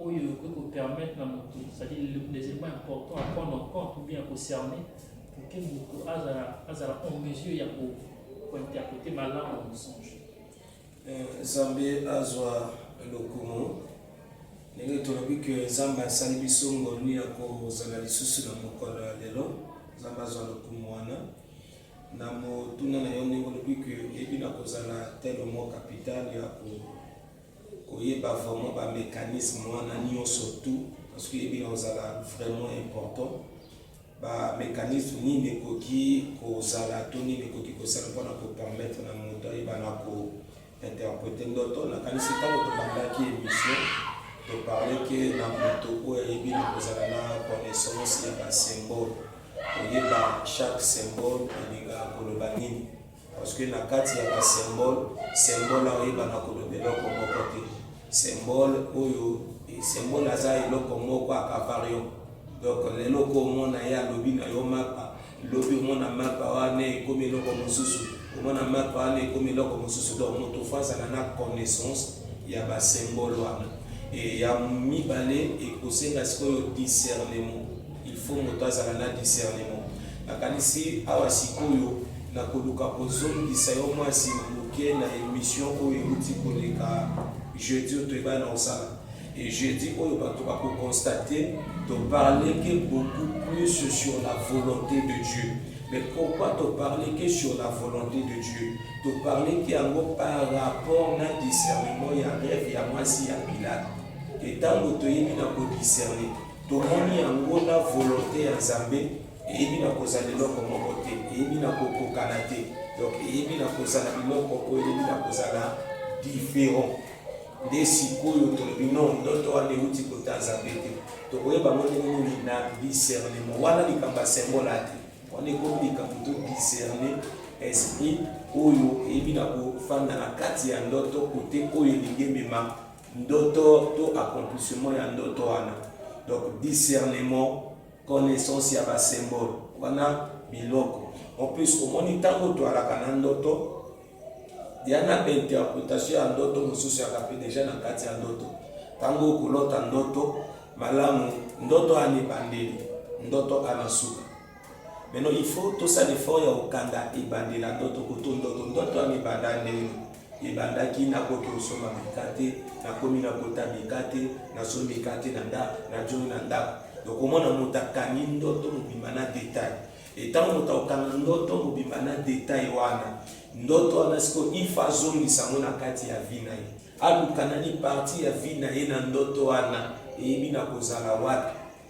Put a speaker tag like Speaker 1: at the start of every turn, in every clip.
Speaker 1: oyo ekoki kopermettre na moto cetadi les éléments importants à prendre en compte ou bien kocerner pour que moto azala azala en mesure ya kointerprete malamu na mosonge euh,
Speaker 2: nzambe azwa lokumu ndenge tolobi ke nzambe asali biso ngolu ya kozala lisusu na mokolo ya lelo nzambe azwa lokumu wana na motuna na yo ndenge olobi ke eyebi na kozala telo mo capital ya ko koyeba vraiment ba mecanisme wana nionso tout parce que yebi na ozala vraiment important ba mecanisme nini ekoki kozala to nini ekoki kosala mpona ko permettre na moto ayeba na ko interprete ndoto nakanisi ntango tobandaki émission toparle ke na moto oyo ayebi na kozala na connaissance ya ba symbole koyeba chaque symbole elingaka koloba nini Parce que na kati ya ba symbole, symbole na oyeba na koloba eloko moko te. Symbole oyo symbole aza eloko moko akavarium. Donc lelo ko omona ye alobi na yo mapa, lobi omona mapa wana ekomi eloko mosusu, omona mapa wana ekomi eloko mosusu. Donc moto fo azala na connaissance ya ba symbole wana. Et ya mibale ekosenga sikoyo discernement. Il faut moto azala na discernement. Nakanisi awa sikoyo nakoluka kozongisa yo mwa nsima moke na emission oyo euti koleka jeudi oyo toyebana na kosala et jeudi oyo bato bakokonstate toparle ke beaucoup plus sur la volonté de dieu mais pourquoi toparle ke sur la volonté de dieu toparle ke yango par rapport na discernement ya rêve ya mwasi ya pilate etango toyebi na kodiscerne Tomoni yango na volonte ya Nzambe eyebi na kozala eloko moko te, eyebi na kokokana te, donc eyebi na kozala biloko oyo eyebi na kozala different. Nde sikoyo tolobi no ndoto wana euti kota Nzambe te, tokoyeba ngo ndenge nini na discernement. Wana likambo ya symbole ate, wana ekomi likambo to discerne esprit oyo eyebi na kofanda na kati ya ndoto kote oyo elingi emema Ndoto to accomplissement ya ndoto wana. Donc discernement, connaissance ya ba symbole wana biloko. En plus omoni ntango toalaka na ndoto ya na interpretation ya ndoto mosusu ya kape deja na kati ya ndoto ntango okolota ndoto malamu ndoto ana ebandeli ndoto ana suka Maintenant, il faut tout ça l'effort ya kokanga ebandela ndoto kutu ndoto ndoto yango ebanda ndenge ebandaki nakoki kosomba mikate nakomi nakota mikate nasombi mikate na ndako najongi na ndako donc omona moto akangi ndoto mobimba na detail etango moto akokanga ndoto mobimba na detail wana ndoto wana sikoyo ifa azongisa yango na kati ya vi na ye aluka nani parti ya vi na ye na ndoto wana eyebi na kozala wapi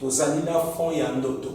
Speaker 2: Tozali na fond ya ndoto.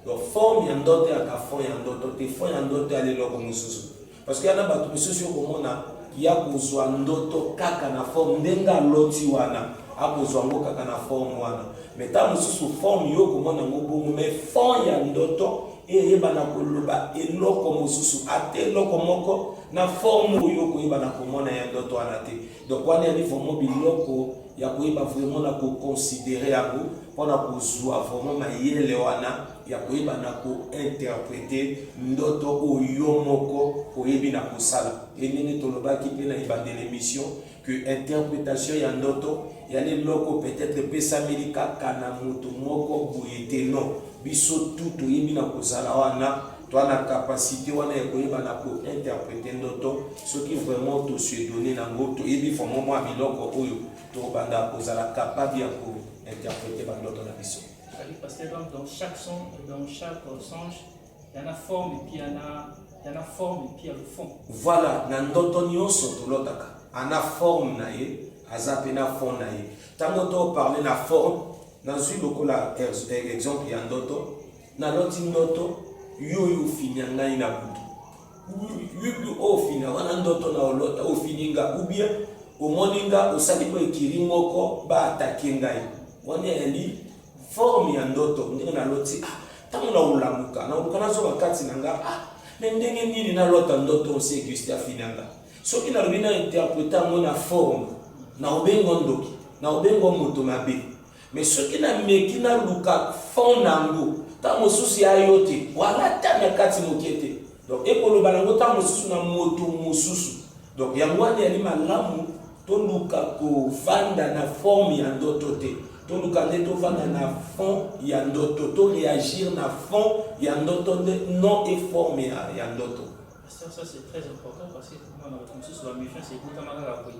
Speaker 2: Donc forme ya ndoto yaka fond ya ndoto te. Fond ya ndoto ya leloko mosusu. Parce que yana bato misusu yo komona ya kozwa ndoto kaka na forme ndenge aloti wana akozwa yango kaka na forme wana me ntango mosusu forme yo okomona yango bongo me fond ya ndoto eyebana koloba eloko mosusu ata eloko moko na forme oyo okoyebana komona ya ndoto wana te Donc wana yali vraiment biloko ya koyeba vraiment na ko considérer yango mpo na kozwa vraiment mayele wana ya koyeba na ko interpreter ndoto oyo moko oyebi na kosala e ndenge tolobaki mpe na ebandela émission que interpretation ya ndoto yali eloko peut-être epesameli kaka na moto moko boye te non biso tout toyebi na kozala wana Toi na capacite wana ya koyeba na ko interpreter ndoto soki vraiment to se donner na ngo to yebi vraiment mwa biloko oyo to banda kozala capable ya ko interpreter ba ndoto na biso. Oui, parce que donc, dans chaque son, dans chaque euh, songe, il y en a forme et
Speaker 1: puis il y en a, il y en a forme et puis il y a le fond. Voilà, na ndoto
Speaker 2: nyonso tolotaka ana forme na ye aza mpe na fond na ye ntango toparle na forme nazwi lokola exemple ya ndoto Naloti ndoto yo oyo ofinya ngai na butu. Yubi ofinga wana ndoto na olota ofini nga ubie omoni nga osali mpo ekiri moko baatake ngai wana yali forme ya ndoto ndenge naloti ah, ntango na olamuka na oluka nazoka kati na nga ah, me ndenge nini nalota ndoto osi eguste afini nga soki nalobi na interprete yango na forme na obengo ndoki na obengo moto mabe Mais soki na meki na luka fond nango tango mosusu ya yo te wala ata na kati moke te donc ekoloba nango tango mosusu na moto mosusu donc yango wana yali malamu toluka kovanda na forme ya ndoto te toluka nde tovanda na fond ya ndoto to reagir na fond ya ndoto nde non e forme ya, ya ndoto ça, ça c'est
Speaker 1: très important parce que moi, dans le consensus, la méfiance est tout à fait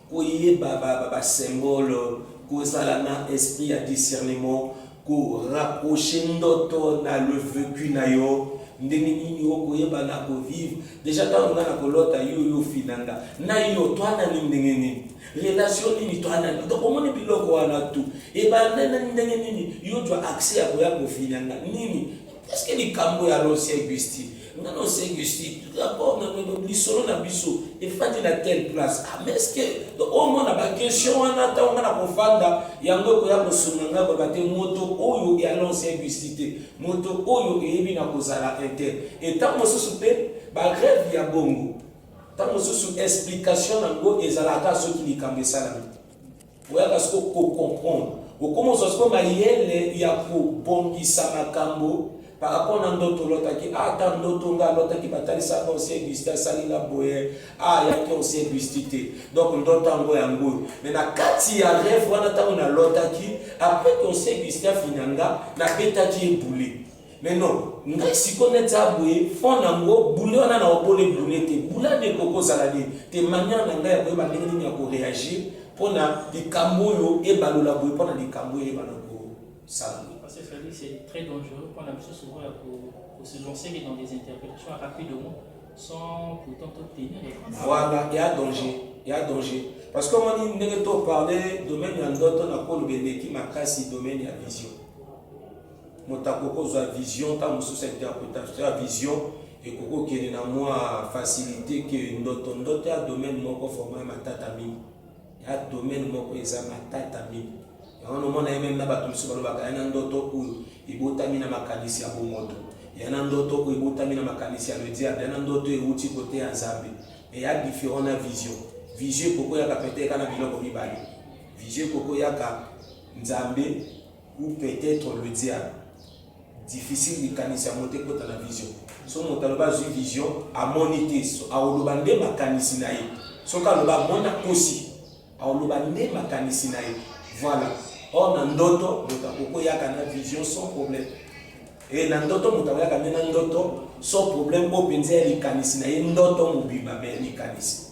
Speaker 2: koyeba ba ba symbole, kozala na esprit ya discernement, ko rapprocher ndoto na le vecu na yo, ndenge nini oko yeba na ko vivre dejà tango nga na ko lota yo yo ofina nga na yo toi na nini ndenge nini relation nini toi na nini donc omoni biloko wana tout ebanda na ndenge nini yo ozwa accès ya koya kofina nga nini est ce que likambo ya l'ancien Augustin Nga na osengi si d'accord na no lisolo na biso efandi na telle place ah mais est-ce que au moins na ba question wana ntango nga na kofanda yango ekoya kosunga nga koyeba te moto oyo e alonse ebisi te moto oyo eyebi na kozala inter e ntango mosusu mpe bareve ya bongo ntango mosusu explication na yango ezalaka soki likambo esalami oyaka siko kocomprendre okoma ozwa siko mayele ya kobongisa makambo par rapport na ndoto olotaki ah, ata ndoto nga alotaki batalisaka osie gusti asali nga boye ah, ayaki osie gusti te donc ndoto yango yango oyo me na kati ya reve wana ntango nalotaki apres ke osie gusti afinya nga nabetaki ebule Mais non, ngai siko neti aboye fond nango boule wana na obole boule te boule wana ekoki kozala de te manière na ngai ya koyeba ndenge nini ya koreagir mpo na likambo oyo ebalola boye mpo na likambo oyo ebana kosala
Speaker 1: boye parce que Félix c'est très dangereux mpo na biso souvent ya kose lancer dans des interprétations rapidement sans pourtant tout tenir voilà ya danger
Speaker 2: ya danger parce que omoni ndenge to parle domaine ya ndoto na koloba eleki makasi domaine ya vision Moto akoki kozwa vision, ntango mosusu interpretation ya vision ekoki kokende na mwa facilite que ndoto. Ndoto ya domaine moko vraiment ya matata mingi, ya domaine moko eza matata mingi. Yango nomona ye meme na bato mosusu balobaka ya na ndoto oyo ebotami na makanisi ya bomoto, ya na ndoto oyo ebotami na makanisi ya le diable, ya na ndoto euti kote ya Nzambe. Mais ya different na vision. Vision ekoki koyaka peut-être kaka na biloko mibale. Vision ekoki koyaka Nzambe ou peut etre le diable difficile likanisi yango te kota na vision so moto aloba azwi vision amoni te aoloba nde makanisi na ye soki aloba amoni akosi aoloba nde makanisi na ye voilà or na ndoto moto akokoyaka na vision sans problème e na ndoto moto akoyaka nde na ndoto sans problème oyo mpenza ya likanisi na ye ndoto mobimba me likanisi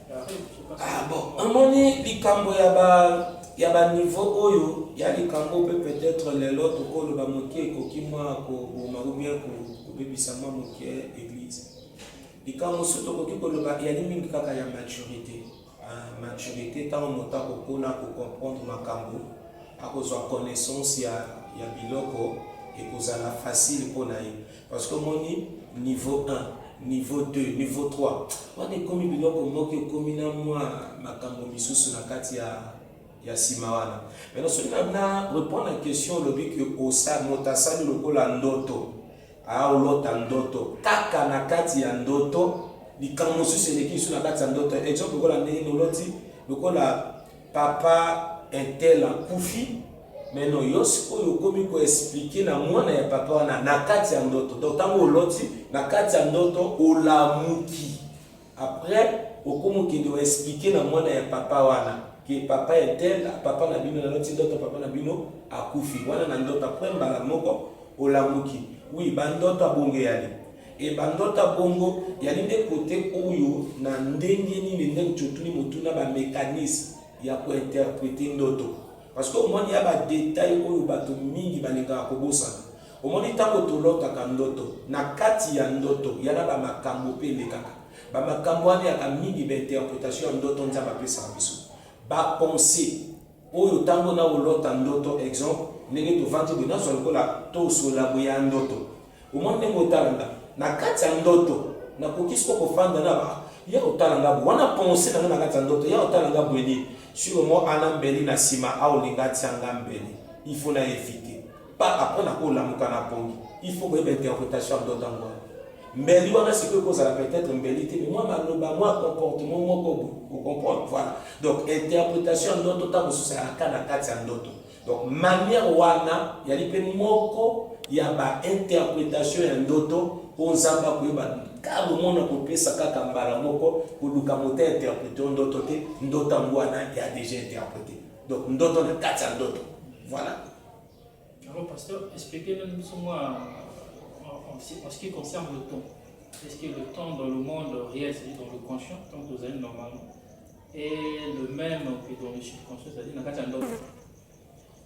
Speaker 1: Ah bon, amoni
Speaker 2: likambo ya ba ya ba niveau oyo ya likambo pe peut-être lelo tokoloba moke ekoki mwa koboma ou bien kobebisa mwa moke eglise. Likambo mosusu tokoki koloba eyali mingi kaka ya maturité. Ah, maturité ntango moto akokola kocomprendre makambo akozwa connaissance ya, ya biloko ekozala facile mpo na ye Parce que moni niveau 1, niveau 2, niveau 3. Wana ekomi biloko moko ekomi na mwa makambo misusu na kati ya ya sima wana. Mais soki na na répondre à question olobi que osa moto asali lokola ndoto. Ah olota ndoto. Kaka na kati ya ndoto likambo mosusu eleki lisusu na kati ya ndoto. Exemple lokola ndenge oloti lokola Papa un tel akufi mais non yo sikoyo okomi ko expliquer na mwana ya papa wana na kati ya ndoto donc tango oloti na kati ya ndoto olamuki après okomi okende o expliquer na mwana ya papa wana que papa un tel papa na bino naloti ndoto papa na bino akufi wana na ndoto après mbala moko olamuki oui ba ndoto abonge yali E bandota bongo yali nde kote oyo na ndenge nini nde ncotuni motuna ba mecanisme ya ko interprete ndoto parce que omoni ya ba detail oyo bato mingi balingaka kobosana omoni ntango tolotaka ndoto na kati ya ndoto yana ba makambo mpe elekaka ba makambo wana yaka mingi ba interpretation ya ndoto nzambe apesaka biso ba pensee Oyo tango nao lota ndoto exemple ndenge tovandi boye nazwa lokola to sola boye ya ndoto omoni ndenge otala nga na kati ya ndoto na koki siko ko fanda na ba ya otala nga boye wana pensee na nga na kati ya ndoto ya otala nga boye nini sur moi ana mbeli na sima ao linga atia nga mbeli il faut na eviter pas après na ko lamuka na pongi il faut koyeba interpretation ya ndoto yango wana mbeli wana sikoyo ekozala peut-être mbeli te mais mwa maloba mwa comportement moko okomprendre voilà donc interpretation ya ndoto ntango mosusu ayaka na kati ya ndoto donc manière wana yali mpe moko ya bainterpretation ya ndoto oyo nzambe akoyeba kaka omona kopesa kaka mbala moko koluka moto interprete o ndoto te ndoto yango wana ya deja interprete donc ndoto na kati ya ndoto voilà Alors,
Speaker 1: pasteur, expliquez nous ce mois en, ce qui concerne le temps. Est-ce que le temps dans le monde réel, c'est-à-dire dans le conscient, tant que vous allez normalement, est le même que dans le subconscient, c'est-à-dire dans le monde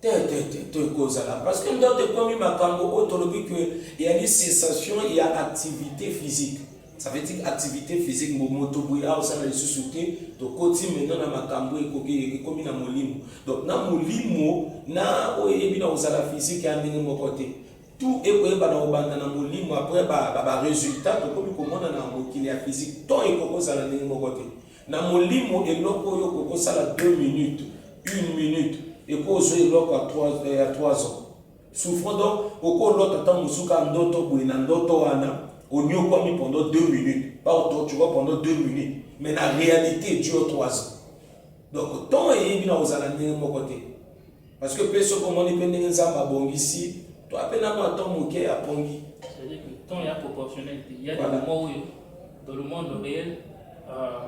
Speaker 1: te te te te
Speaker 2: kozala parce que ndoto ekomi makambo oyo tolobi ke eyali cessation ya activité physique Ça veut dire activité physique mbo moto boye awa osala lisusu te tokoti mena na makambo ekoki ekomi na molimo donc na molimo na oyo eyebi na kozala physique ya ndenge moko te tout ekoyeba na kobanda na molimo après ba, ba, ba résultat tokomi komona na mokili ya physique to ekoki kozala ndenge moko te na molimo eloko oyo okoki kosala 2 minutes 1 minute ekoki ozwa eloko ya 3 euh, ans Souffrant donc oko lota tango mosusu kaka ndoto boye na ndoto wana oniokwami pendant deux minutes ba ko torture pendant deux minutes mais na realite tu as trois ans donc temps eyebi na kozala ndenge moko te parce que mpe soki omoni mpe ndenge nzambe abongisi to ape na mwa temps moke apongi temps ya
Speaker 1: proportionnel te ya de moment oyo dans le monde réel euh,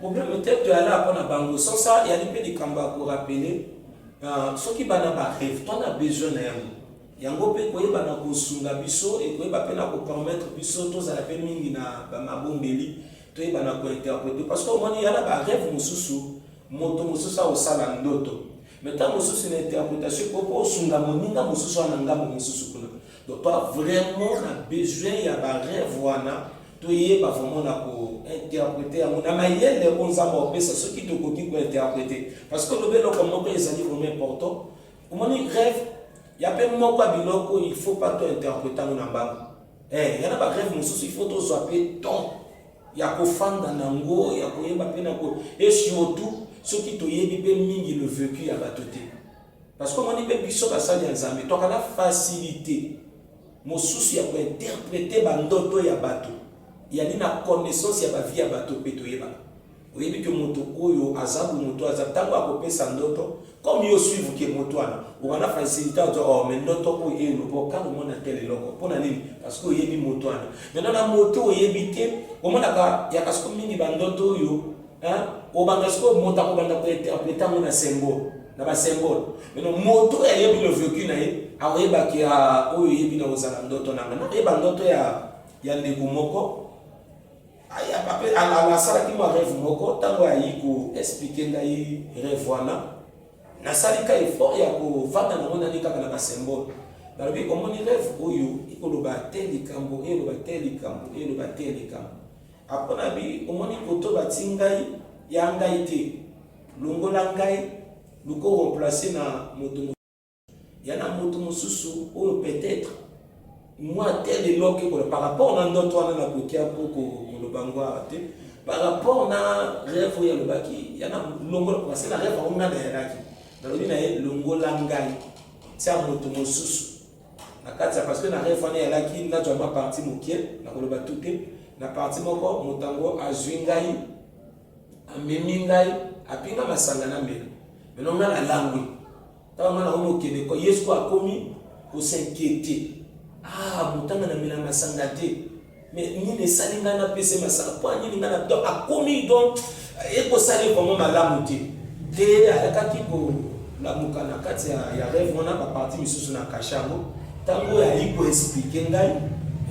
Speaker 2: problème te toyala mpo na bango sosa eyali mpe likambo ya korapele euh, soki bana bareve to na besoin na yango yango mpe koyeba na kosunga biso ekoyeba mpe na kopermettre biso tozala mpe mingi na bamabondeli toyeba na kointerprete parce que omoni ya na bareve mosusu moto mosusu akosala ndoto me ntango mosusu na interpretation ekoki osunga moninga mosusu wana ngambo mosusu kuna Papa vraiment na besoin ya ba rêve wana toyeba vraiment na ko interpreter yango na mayele oyo nzambe opesa soki tokoki ko interpreter parce que olobi eloko moko ezali vraiment important omoni rêve ya mpe moko ya biloko il faut pas to interprete yango na mbango eh, yana ba rêve mosusu il faut tozwa mpe temps ya kofanda na yango ya koyeba mpe na ko et surtout soki toyebi mpe mingi le vécu ya bato te Parce que omoni mpe biso basali ya Nzambe toka na facilité mosusu ya kointerprete bandoto ya bato yani na connaissance ya bavie ya bato mpe toyebaka oyebi ke moto oyo aza bo moto aza ntango akopesa ndoto comme yo suivre ke moto wana okana facilité ozo o oh, me ndoto oyo eloba okanga omona tel eloko mpo na nini parce que oyebi moto wana maintenant na moto oyebi te omonaka ya kasiko mingi bandoto oyo Hein? Obanda sikoyo moto akobanda kointerprete yango na symbole na basymbole mino moto oyo ayebi le vécu na ye akoyebaki ah, oyo oyebi na kozala ndoto na nga nakoyeba ndoto ya ya ndeko moko asalaki mwa rêve moko ntango ayi koexplike ngai rêve wana nasali ka effort ya kovanda nango nani kaka na basymbole nalobi omoni rêve oyo ekoloba te likambo eloba te likambo eloba te likambo Apo na bi omoni koto ba ti ngai ya ngai te longola ngai luko remplace na moto mosusu ya na moto mosusu oyo peut etre mwa tel eloko ekola par rapport na ndoto wana na kokia mpo koloba ngo awa te par rapport na rêve oyo alobaki ya na longola parce na rêve yango ngai nayalaki nalobi na ye longola ngai tia moto mosusu na kati ya parce que na ref wana eyalaki nazwa mwa parti moke na koloba tu te na parti moko moto yango azwi ngai amemi ngai apinga masanga na mbela meno ngai nalangwi ntango ngai nakomi okende ko yesu ko akomi kosinkiete ah motanga na mbela masanga te mais nini esali ngai napese masaka mpo nini ngai na donc akomi donc ekosali vraiment malamu te te ayakaki kolamuka na kati ya rêve wana baparti misusu na kashe yango ntango oyo ayi koexplike ngai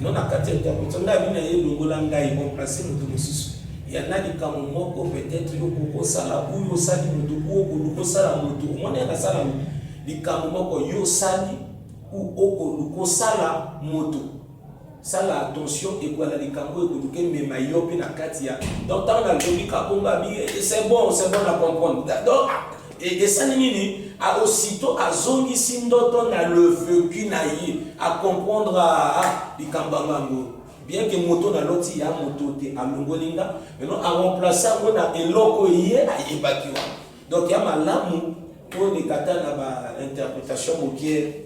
Speaker 2: no na kati ya interprétation ngai abi na ye longola ngai remplace moto mosusu ya na likambo moko peut-être yo kokosala oyo osali moto oyo koluka osala moto omoni ya nasala likambo moko yo osali oyo okoluka osala moto Sala attention ekwala likambo ekoluka emema yo pe na kati ya donc ntango nalobi kabomba bi eh, c'est bon c'est bon na comprendre donc esali nini aussitôt azongisi ndoto na le vécu na ye acomprendre ah, ah, likambo yango yango bien ke moto na loti ya moto te alongoli nga maintenant aremplace yango na eloko ye ayebaki wana donc ya malamu tolekata na bainterpretation mokie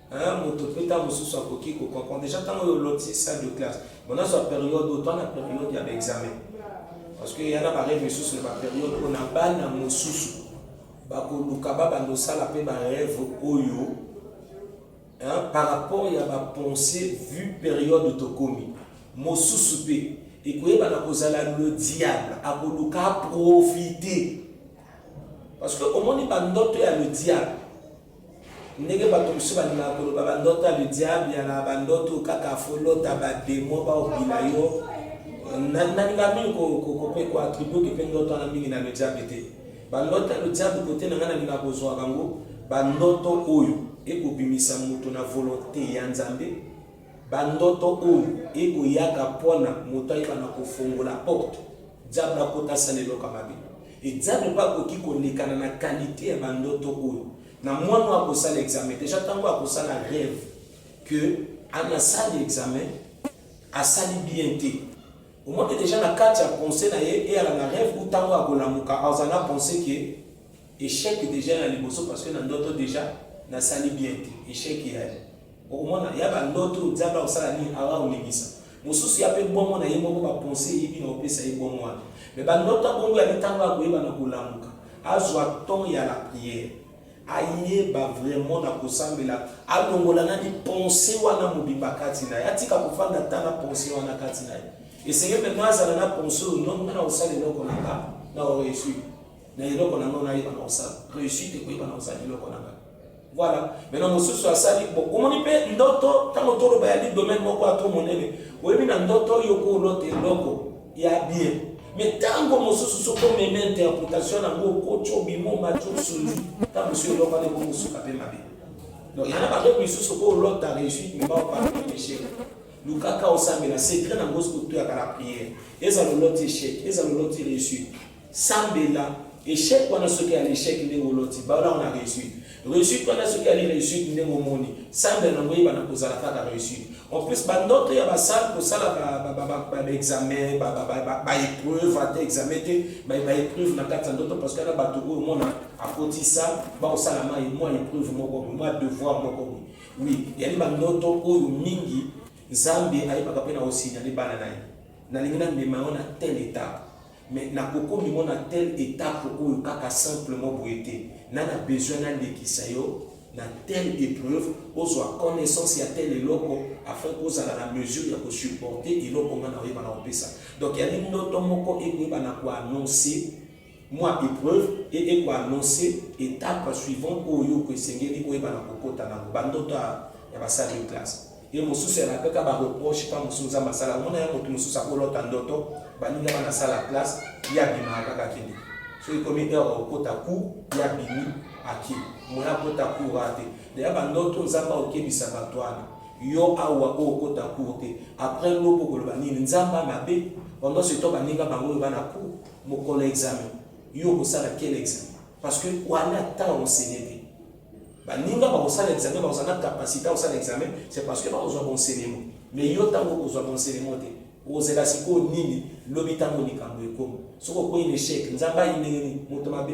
Speaker 2: Hein, moto pe ntango mosusu akoki ko comprendre deja ntango oyo oloti salle de classe bon nazwa periode oyo toa na periode ya baexamen parce que ya na bareve mosusu na baperiode oyo na bana mosusu bakoluka babanda osala mpe bareve oyo hein, par rapport ya bapense vu periode tokomi mosusu mpe ekoyebana kozala le diable akoluka aprofite parce que omoni bandoto ya le diable Ndenge batu mosusu balingaka koloba ba ndoto ya le diable ya na ba ndoto kaka faut lota ba demon ba obila yo na nalinga mingi ko ko pe ko attribue que pe ndoto wana mingi na le diable te ba ndoto ya le diable kote na nga nalinga kozwa bango ba ndoto oyo ekobimisa moto na volonte ya Nzambe Ba ndoto oyo eko yaka pona moto ayeba na ko fongola porte diable akota asala eloko ya mabe et diable pe akoki ko lekana na qualite ya ba ndoto oyo na muana oyo ako sala examen dejà tangu ako sala reve que ana sali examen asali bien te omoni dejà na kati ya pensee na ye eyala na reve ou tangu ako lamuka aza na pensee que echec dejà ya liboso parce que na ndoto dejà na sali bien te echec ya Okomona ya ba ndoto oyo Nzambe akosala nini awa olimisa. Mosusu ya pe bongo na ye moko ba conseil eyebi na opesa ye bongo wana. Mais ba ndoto ya bongo ya mitango ya koyeba na kolamuka. Azwa temps ya la prière. Ayeba vraiment na kosambela. Alongola nani pensee wana mobimba kati na ye. Atika kofanda ata na pensee wana kati na ye. Esengeli maintenant azala na pensee oyo non nga na kosala eloko na nga na ko reussi. Na eloko na nga na yeba na kosala. Reussite ekoyeba na kosala eloko na nga. Voilà. Maintenant mosusu asali bon omoni mpe ndoto ntango toloba ya li domaine moko ato monene oyebi na ndoto oyo koolota eloko ya bien mais ntango mosusu soki omeme interpretation nango okoti obima omati osungi ntango mosusu eloko wana ekomosuka mpe mabe donc yana bato misusu koolota réussite mema opana échec lukaka osambela secret nango soki otuyaka na prière ezala oloti échec ezala oloti réussite Sambela echec wana soki ya l'echec ndenge oloti baola yango na reussite reussite wana soki ali reussite ndenge omoni sambela nango oyeba na kozala kaka reussite en plus bandoto ya basale kosala baexamen baepreuve ata examen te baepreuve na kati ya ndoto parce que na bato oyo omona akotisa bakosala mai mwa epreuve moko mwa devoir moko oui yali bandoto oyo mingi nzambe ayebaka mpe na osinyale bana na ye nalingi na mema yango na tel état Mais na koko mimo na tel etape oyo kaka simplement boye te na na besoin na lekisa yo na tel epreuve ozua connaissance ya tel eloko afin ko zala na mesure ya ko supporter eloko nga na oyeba na opesa donc ya li ndoto moko eko yeba na ko annoncer mwa epreuve et eko annoncer etape suivante oyo ko esengeli oyeba na ko kota na ngo ba ndoto ya ba salle de classe Ye mosusu ya napeka ba reproche temps mosusu nzambe asala omona ya mutu mosusu akolota ndoto baninga wana asala classe ye abimaka kaka akende soki ekomi heure ya kokota cour ye abimi ake moya akota cour wana te deya bandoto nzambe akokebisa bato wana yo awa oyo okota cour te après lobo okoloba nini nzambe amabe pendant ce temps baninga bango oyo bana cour mokolo examen yo okosala quel examen parce que wana temps osele te Baninga bakosala examen, bakozala na capacité ya kosala examen, c'est parce que bakozwa bonselement. Mais yo ntango okozwa bonselement te, okozela sikoyo nini lobi ntango likambo ekomi? Soki okwei na echec, Nzambe ayi ndenge nini? Moto mabe?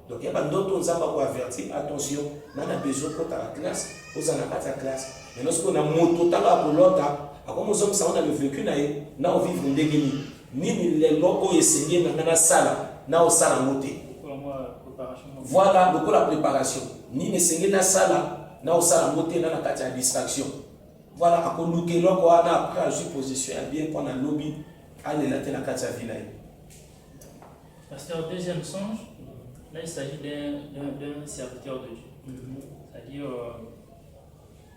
Speaker 2: Donc ya bandoto Nzambe ako avertir, attention, nga na besoin kota na classe, ozala na kati ya classe. Maintenant sikoyo na moto ntango akolota, akomozongisa ngo na le vécu na ye, na ovivre ndenge nini? Nini lelo oyo esengeli na ngai nasala na osala yango te? Voilà, lokola preparation. Nini esengeli nasala na osala yango te na na kati ya distraction? Voilà, akoluka eloko wana après azwi position ya bien mpo na lobi alela te na kati ya vie na ye. Pasteur, deuxième songe, là il
Speaker 1: s'agit d'un serviteur de Dieu. Mm -hmm. C'est-à-dire, euh,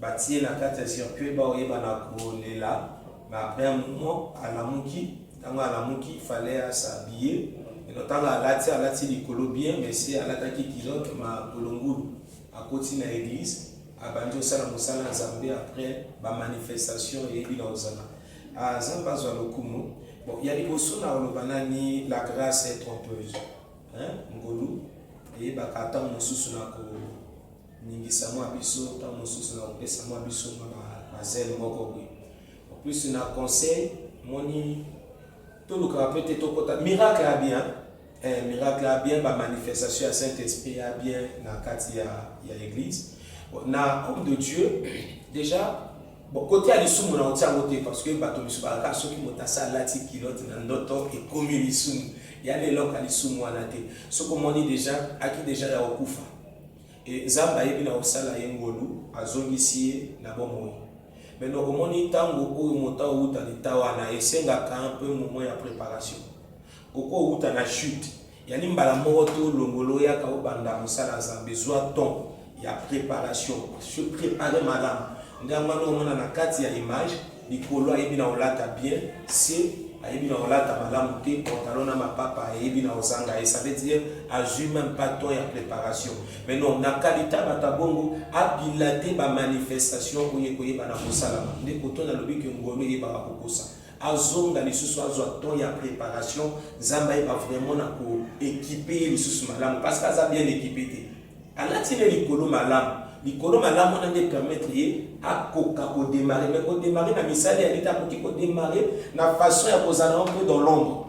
Speaker 2: Batiye na kati ya circuit ba oyeba na kolela mais après un moment alamuki tango alamuki il fallait a s'habiller eno tango alati alati likolo bien mais se alataki kilote ma kolongulu akoti na eglise abandi osala mosala ya nzambe après ba manifestation eyebi na ozala ah, nzambe azwa lokumu bon ya liboso na oloba nani la grâce est trompeuse ngolu eyebaka ntango mosusu na ko ningisa mwa biso ntango mosusu na kopesa mwa biso mwa bazele moko boye en plus na conseil moni tolukaka mpe te tokota miracle ya bien eh, miracle ya bien bamanifestation ya saint esprit ya bien na kati ya, ya église na homme de dieu déjà bon kote ya lisumu na otia yango te parce que bato misu balaka soki moto asi alati kilote na ndoto ekomi lisumu ya leloko ya lisumu wana te soki omoni déjà aki déjà ya kokufa Et Nzambe ayebi na kosala ye ngolu, azongisi ye na bomoi. Mais donc omoni tango oyo moto awuta l'etat wana esengaka un peu moment ya preparation. Okoki owuta na chute, yani mbala moko te olongola oyaka obanda mosala ya Nzambe. Zwa temps ya preparation, se preparer malamu. Nde yango wana omona na kati ya image, likolo ayebi na olata bien se ayebi na olata malamu te pantalon na mapapa ayebi na ozanga ye ça veut dire azwi même pas temps ya préparation mais non na kalita bato ya bongo abila te bamanifestation oyo ekoyeba na kosalama nde koto nalobi ke ngolo eyebaka kokosa azonga lisusu azwa temps ya préparation nzambe ayeba vraiment na koekipe ye lisusu malamu parce que aza bien ekipe te Alati ne likolo malamu. Likolo malamu wana nde permettre ye akoka ko demarrer. Mais ko demarrer na misala ya leta akoki ko demarrer na façon ya kozala un peu dans l'ombre.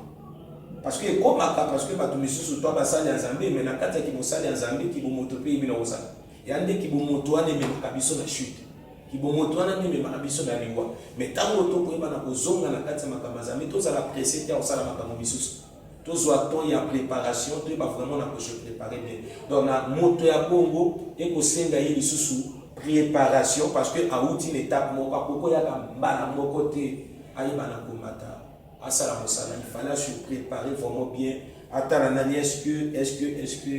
Speaker 2: Parce que ekomaka parce que bato misusu to basali ya Nzambe mais na kati ya kibosali ya Nzambe kibomoto mpe eyebi na kozala. Ya nde kibomoto wana ememaka biso na chute. Kibomoto wana nde ememaka biso na liwa. Mais ntango tokoyeba na kozonga na kati ya makambo ya Nzambe, tozala presse te ya kosala makambo misusu. tozwa temps ya preparation toyeba vraiment na kose prepare bien donc na moto ya bongo ekosenga ye lisusu preparation parce que awuti na etape moko akoki koyaka mbala moko te ayeba na komata asala mosala il fallait se prepare vraiment bien atala nani est-ce que est-ce que est-ce que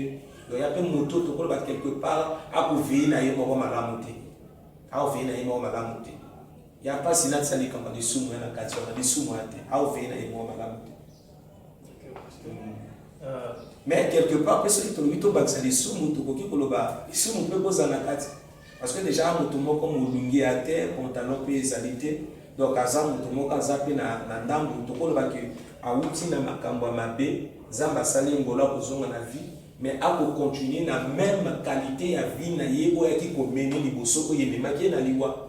Speaker 2: donc ya mpe moto tokoloba quelque part akoveye na ye moko malamu te akoveye na ye moko malamu te Ya pasi na tisa likambo ya lisumu ya na kati wana lisumu ya te au veye na ye mwa malamu te euh. mais quelque part mpe soki tolobi tobakisa lisumu tokoki koloba lisumu mpe kozala na kati parce que déjà moto moko molungi ya te pantalon mpe ezali te donc aza moto moko aza mpe na, na ndambo tokoloba ke awuti na makambo ya mabe nzambe asali ngolo akozonga na vie mais akokontinue na meme qualité ya vie na ye oyo ayaki komene liboso oyo ememaki ye na liwa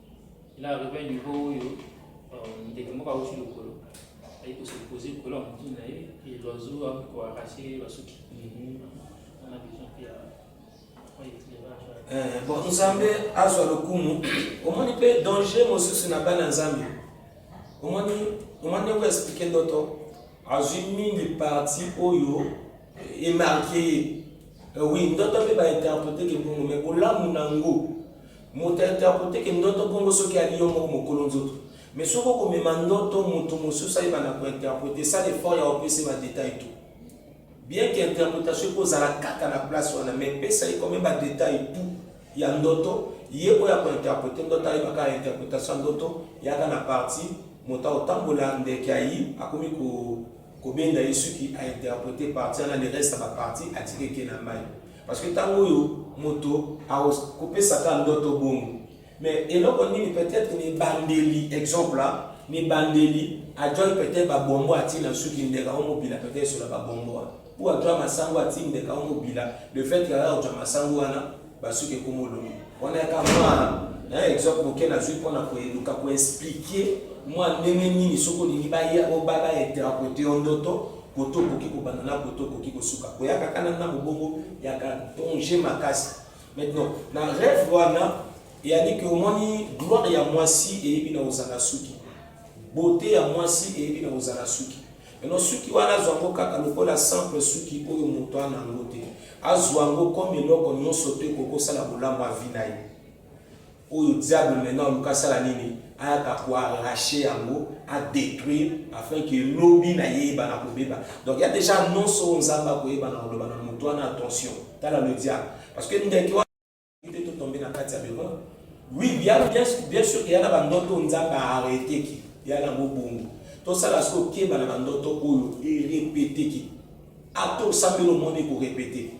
Speaker 1: Il a arrivé niveau oyo euh, ndeke moko awuti lokolo ayi ko se poser likolo ya motu na ye et l'oiseau a ko arracher basuki mhm. on a besoin
Speaker 2: mpe ya eh, bon nzambe azwa lokumu omoni mpe danger mosusu na bana nzambe omoni omoni ndeko explike ndoto azwi mingi parti oyo emarke ye eh, oui ndoto mpe bainterprete ke bongo mai bolamu na yango Moto ento akoteke ndoto bongo soki ali yo moko mokolo nzoto mais soki oko mema ndoto mutu mosusu ayebana ko interprete sala effort ya opese ba detail tout bien que interpretation eko zala kaka na place wana mais pesa ye comme ba detail tout ya ndoto ye oyo ako interprete ndoto ayeba kaka interpretation ya ndoto yaka na partie moto akotambola ndeke ayi akomi ko kobenda ye suki a interprete partie wana le reste ya ba partie atiki eke na mayi. Parce que tango oyo moto akopesa ka ndoto bongo mais eloko nini peut-être na ebandeli exemple hein, na ebandeli ajwaki peut-être babombo atii na suki ndeka o mobila peut-être esola babombo wana ou ajwa masango atii ndeka o mobila le fait que aya kojwa masango wana basuki ekomolongo wana yaka mwana hein, exemple moke nazwi mpo na koeluka koexplike mwa ndenge nini soki olingi baya obaba interprete yo ndoto Koto okoki kobanda na koto okoki kosuka koya kaka na na mobongo ya ka danger makasi maintenant na rêve wana eyali ke omoni gloire ya mwasi eyebi na kozala suki beauté ya mwasi eyebi na kozala suki maintenant suki wana azwa yango kaka lokola simple suki oyo moto ana yango te azwa yango comme eloko nyonso te kokosala bolamu avi na ye Oyo diable maintenant aluka asala nini ayaka ko arracher yango a detruire afin que lobi na ye eyebana kobeba donc ya dejà annonce oyo nzambe akoyeba na koloba na moto wana attention tala le diable parce que ndeke wana te to tombe na kati ya bero oui bien bien bien sûr que yana ba ndoto nzambe a arrêter ki yana ngo bongo to sala siko keba na ba ndoto oyo e répéter ki ato sambelo moni ko répéter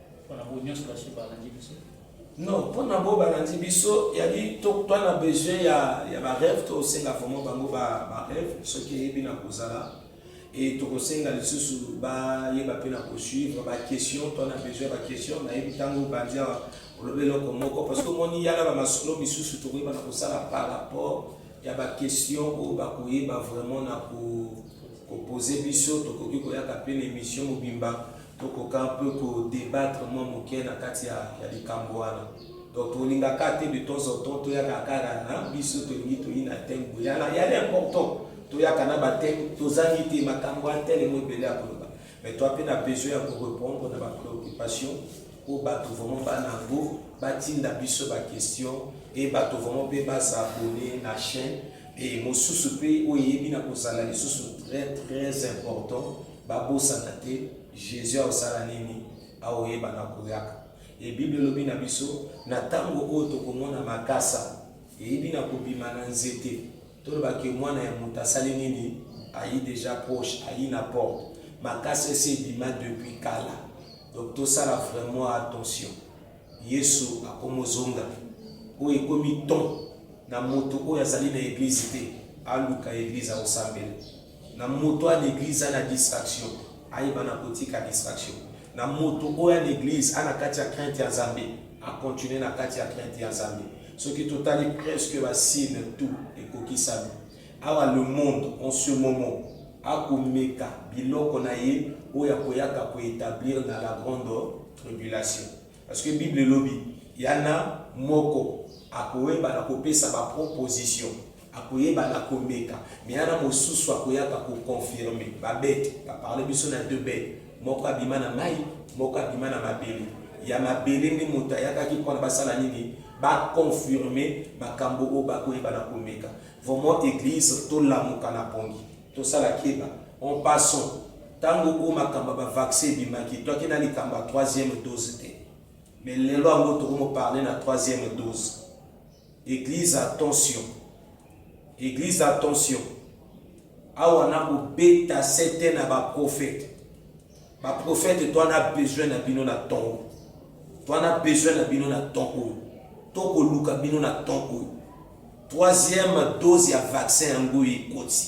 Speaker 1: Pona bo nyonso ba se balandi
Speaker 2: biso. Non, pona bo balandi biso yali to toi na besoin ya ya ba rêve to senga vraiment bango ba ba rêve soki eyebi na kozala et to kosenga lisusu ba yeba pe na ko suivre ba questions toi na besoin ba questions na yebi tango bandi awa olobi eloko moko parce que moni yala ba masolo misusu to koyeba na kosala par rapport ya ba questions oyo ba koyeba vraiment na ko ko poser biso to koki koyaka pe na émission mobimba Tokoka mpe ko debattre mwa moke na kati ya likambo wana. Donc tolinga ka te de temps en temps toyaka kaka na biso tolingi toyina thème boye yala yala important toyaka na ba thème tozangi te makambo ya tel mwa ebele ya koloba mais toi mpe na besoin ya ko repondre na ba préoccupation oyo bato vraiment bana yango batinda biso ba question e bato vraiment mpe basabone na chaîne e mosusu mpe oyo eyebi na kozala lisusu très très important Babosana te Jesus akosala nini? Akoyebana akoyaka. E Bible elobi na biso na tango oyo tokomona makasa eyibi na kobima na nzete, toloba ke mwana ya moto asali nini? Ayi deja proche, ayi na porte. Makasa esi ebima depuis kala. Donc tosala vraiment attention. Yesu akomozonga. Oyo ekomi ton na moto oyo azali na eglise te, aluka eglise akosambela. Na moto a n'eglise a na distraction ayeba na kotika distraction. Na moto oyo a n'eglise a na kati ya crainte ya Nzambe a continuer na kati ya crainte ya Nzambe. Soki totali presque ba signe tout ekokisami awa le monde en ce moment a komeka biloko na ye oyo akoyaka ko etablir na la grande tribulation parce que bible elobi ya na moko akoyeba na kopesa ba proposition Akoyeba na komeka mais ana mosusu akoyaka ko confirmer ba bete ba parle biso na deux bete moko abima na mayi moko abima na mabele ya mabele nde moto ayakaki pona basala nini ba confirmer makambo oyo bakoyeba na komeka vraiment eglise tolamuka na pongi tosala keba en passant tango oyo makambo ya ba vaccin ebimaki toaki na likambo ya troisième dose te mais lelo yango tokomo parle na troisième dose Eglise attention Eglise attention awa na kobeta sete na ba prophète ba prophète toi na besoin na bino na temps oyo toi na besoin na bino na temps oyo tokoluka bino na temps oyo troisième dose ya vaccin yango ekoti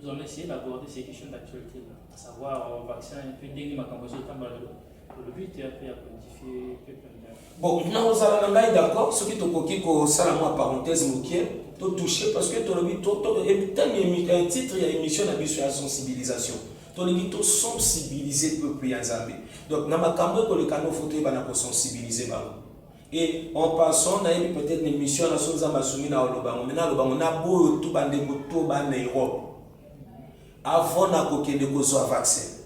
Speaker 1: Nous allons essayer
Speaker 2: d'aborder ces questions d'actualité, à savoir euh, vaccin, et puis ndenge makambo ezotambola lelo le but est après ya codifier peuple bon nakozala na ngai d'accord soki tokoki kosala mwa parenthèse mokie totouche parce que tolobi tami eh, titre ya émission na biso ya sensibilisation tolingi tosensibilize peuple ya nzambe donc na makambo ekoleka no fo toyebana kosensibilize bango Et en passant, nayebi peut-être l'émission na so nzambe asungi na olobango mais nalobango na boyo tu bandeko to ba na Europe avant na kokende kozwa vaccin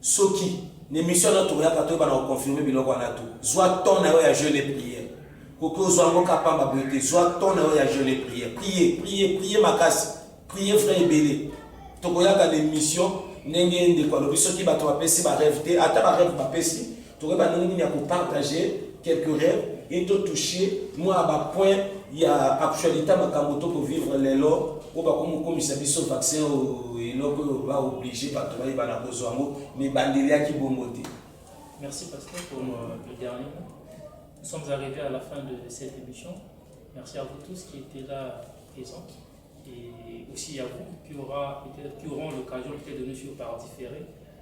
Speaker 2: soki na émission na toyaka toyeba na koconfirme biloko wana tu zwa temps na yo ya jeune et prière koki ozwa yango ka pamba boye te zwa temps na yo ya jeune et prière prier prier prier makasi prier frais ebele tokoyaka na émission ndenge ndeko alobi soki bato bapesi barêve te ata barêve bapesi tokoyeba ndenge nini ya kopartage quelques rêves et to toucher mwa bapoint ya actualité makambo tokovivre lelo oyo bakomokomisa biso vaccin eloko oyo baoblige bato bayeba na kozwa yango mibandeli yaki bongo te merci
Speaker 1: pasteur pour euh, le dernier mot nous sommes arrivés à la fin de cette émission merci à vous tous qui étaient là présents et aussi à vous qui, aura, qui auront l'occasion peut-être de nous suivre par différé